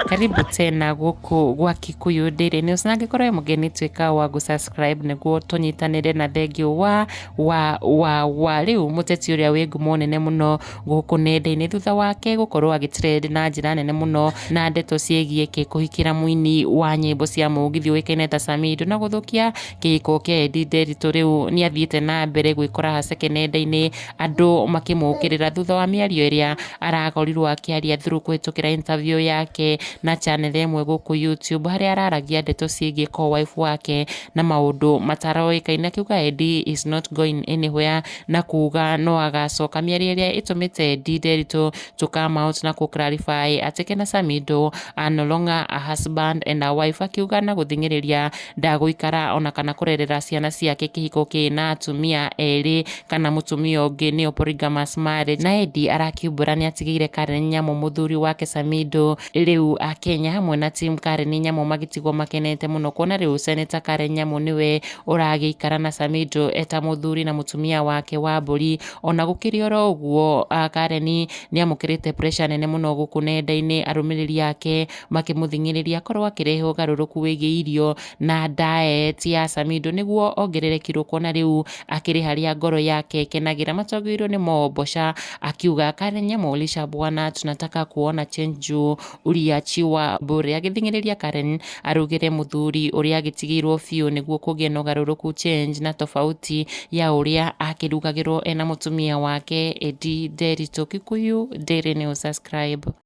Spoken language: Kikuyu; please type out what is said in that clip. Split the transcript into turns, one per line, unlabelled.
karibu tena gũkũ gwa kikuyu daily news na angĩkorwo wĩ mũgeni tuĩka wa gũ subscribe nĩguo tũnyitanĩre na thengiũ wa wa wa wa rĩu mũteti ũrĩa wĩ ngumo nene mũno gũkũ nenda-inĩ thutha wake gũkorwo agĩtrend na njĩra nene mũno na ndeto ciĩgiĩ kĩ kũhikĩra mũini wa nyĩmbo cia mũgithi ũĩkaine ta Samido na gũthũkia kĩhiko kĩa Edi Nderitu rĩu nĩ athiĩte na mbere gwĩkora haceke nenda-inĩ andũ makĩmũkĩrĩra thutha wa mĩario ĩrĩa arakorirwo akĩaria through kũhĩtũkĩra interview yake na channel ĩmwe gũkũ YouTube harĩa araragia ndeto ciĩgiĩ co-wife wake na maũndũ mataroĩkaine akiuga Edi is not going anywhere na kuuga no agacoka mĩario ĩrĩa ĩtũmĩte Edi Nderitu to come out na kũ clarify atĩ Kena Samido are no longer a husband and a wife akiuga na gũthing'ĩrĩria Ndagũikara ona kana kũrerera ciana ciake kĩhiko kĩ na atumia erĩ kana mũtumia ũngĩ nĩyo polygamous marriage. Na Eddie arakiumbũra nĩatigĩire Karen Nyamũ mũthuri wake Samido. Rĩu Akenya hamwe na team Karen Nyamũ magĩtigwo makenete mũno kuona rĩu Senator Karen Nyamũ nĩwe ũragĩikara na Samido eta mũthuri na mũtumia wake wa mbũri. Ona gũkĩrĩ oro ũguo Karen nĩamũkĩrĩte pressure nene mũno gũkũ nenda-inĩ arũmĩrĩri ake makĩmũthing'ĩrĩria akorwo akĩrehe ũgarũrũku wĩgiĩ irio na diet ya Samido nĩguo ongerere kiro kuona rĩu akĩrĩ harĩa ngoro yake ĩkenagĩra matongoirwo nĩ Mombosha akiuga Karen Molisha bwana tunataka kuona change juu uliachi wa bure agĩthing'ĩrĩria Karen arugĩre mũthuri ũrĩa agĩtigĩirwo biũ nĩguo kũgĩe na ũgarũrũku change na tofauti ya ũrĩa akĩrugagĩrwo ena mũtumia wake Edi Nderitũ Kikuyu Daily News subscribe